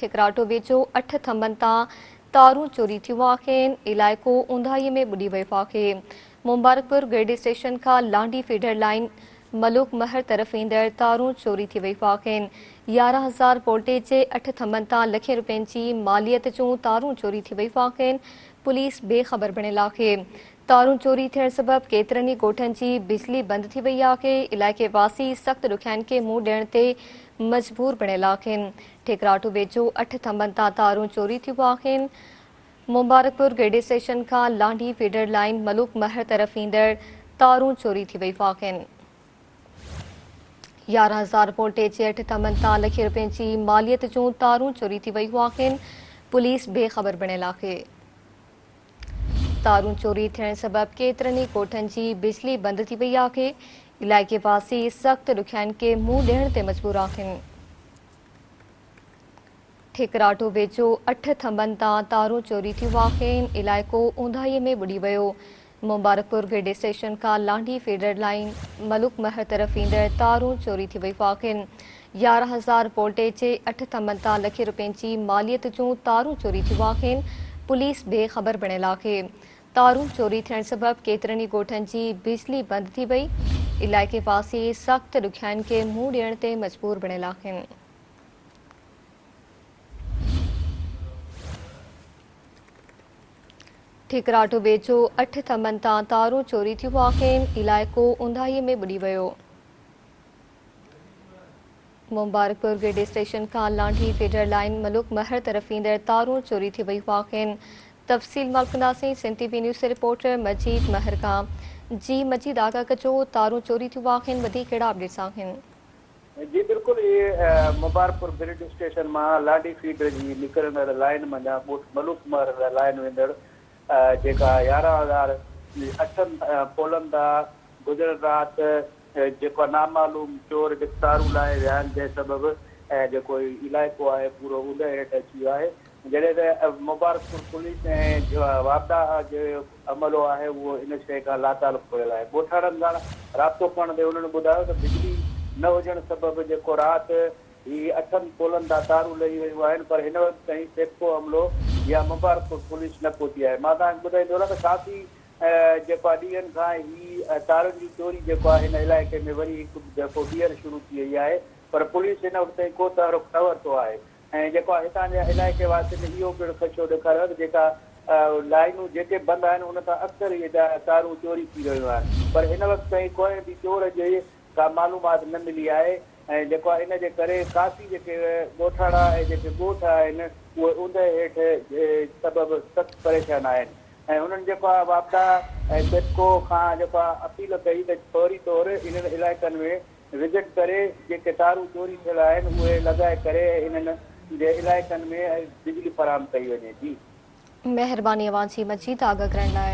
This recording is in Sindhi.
ٺڪراٽو ويجهو اٺ ٿنڀن تان تارون چوري ٿيون آهن، علائقو اونداهي ۾ ٻڏي ويو آهي. مبارڪپور گرڊي اسٽيشن کان لانڍي فيڊر لائين ملوڪ مهر طرف ويندڙ تارون چوري ٿي ويون آهن، يارهن هزار وولٽيج جي اٺ ٿنڀن تان لکين روپين جي ماليت جون تارون چوري ٿي ويون آهن، پوليس بي خبر بڻيل آهي. تارون چوري ٿيڻ سبب ڪيترن ئي ڳوٺن جي بجلي بند ٿي وئي آهي، علائقي واسي سخت ڏکيائين کي منهن ڏيڻ تي مجبور بڻيل آهن، ٺڪراٺ ويجهو اٺ ٿنڀن تان تارون چوري ٿيون آهن، مبارڪپور گيڊي اسٽيشن کان لانڍي فيڊر لائين ملوڪ مهر طرف ايندڙ تارون چوري ٿي ويون آهن، يارهن هزار وولٽيج جي اٺ ٿنڀن تان لکين روپين جي ماليت جون تارون چوري ٿي ويون آهن، پوليس بي خبر بڻيل آهي. تارون چوري ٿيڻ سبب ڪيترن ئي ڳوٺن جي بجلي بند ٿي وئي آهي، علائقي واسي سخت ڏکيائين کي منهن ڏيڻ تي مجبور آهن. ٺڪراٺو ويجهو اٺ ٿنڀن تان تارون چوري ٿيون آهن، علائقو اونداهي ۾ ٻڏي ويو. مبارڪپور گرڊ اسٽيشن کان لانڍي فيڊر لائين ملڪ مهر طرف ويندڙ تارون چوري ٿي ويون آهن، يارهن هزار وولٽيج جي اٺ ٿنڀن تان لکين رپين جي ماليت جون تارون چوري ٿيون آهن، پوليس بي خبر بڻيل آهي، تارون چوري ٿيڻ سبب ڪيترن ئي ڳوٺن جي بجلي بند ٿي وئي، علائقي واسي سخت ڏکيائين کي منهن ڏيڻ تي مجبور بڻيل آهن. ٺڪراٺ ويجهو اٺ ٿنڀن تان تارون چوري ٿيون آهن، علائقو اونداهي ۾ ٻڏي ويو. مبارڪپور گرڊي اسٽيشن کان لانڍي فيڊر لائين ملوڪ مهر طرف ويندڙ تارون چوري ٿي ويون آهن تفصيل مال ڪنداسين سنڌ ٽي وي نيوز جي رپورٽر مجيد مهر کان جي مجيد آگاهه ڪجو تارون چوري ٿيون آهن وڌيڪ ڪهڙا اپڊيٽس آهن جي بلڪل اهي مبارڪپور گرڊ اسٽيشن مان لانڍي فيڊر جي نڪرندڙ لائين منجهان ڳوٺ ملوڪ مهر لائين ويندڙ جيڪا يارهن هزار اٺن پولندا گذريل رات جيڪو نامعلوم چور ڏڪتارون لاهي ويا آهن جنهن سبب جيڪو هي علائقو آهي پورو اڏ هيٺ اچي ويو آهي جڏهن ته مبارڪ پور پوليس ۽ واپڊا جو عملو آهي اهو ان شيء کان لاتعلق پڙهيل آهي ڳوٺاڻن سان رابطو ڪرڻ تي انهن ٻڌايو ته بجلي نه هجڻ سبب جيڪو رات هي اٺن پولن تان تارون لهي ويون آهن پر هن وقت تائين سيپڪو عملو يا مبارڪ پور پوليس نه پهتي آهي مان توهان کي ٻڌائيندو هلان ته ڪافي جيڪو آ ڏينهن کان هي تارن جي چوري جيڪو آ هن علائقي ۾ وري هڪ دفعو ٻيهر شروع ٿي وئي آهي پر پوليس هن وقت تائين ڪو تحرڪ نه ورتو آهي ۽ جيڪو آ هتان جي علائقي واسين اهو پڻ خدشو ڏيکاريو آ ته جيڪا لائينون جيڪي بند آهن ان تان اڪثر هي تارون چوري ٿي رهيون آهن پر هن وقت تائين ڪنهن به چور جي ڪا معلومات نه ملي آهي ۽ جيڪو آهي ان جي ڪري ڪافي جيڪي ڳوٺاڻا ۽ جيڪي ڳوٺ آهن اهي اوندهه هيٺ جي سبب سخت پريشان آهن ۽ هنن جيڪو آهي واپڊا ۽ سيپڪو کان جيڪو آهي اپيل ڪئي ته فوري طور انهن علائقن ۾ وزٽ ڪري جيڪي تارون چوري ٿيل آهن اهي لڳائي ڪري انهن جي علائقن ۾ بجلي فراهم ڪئي وڃي جي. مهرباني اوهان جي مزيد آگاهه ڪرڻ لاء.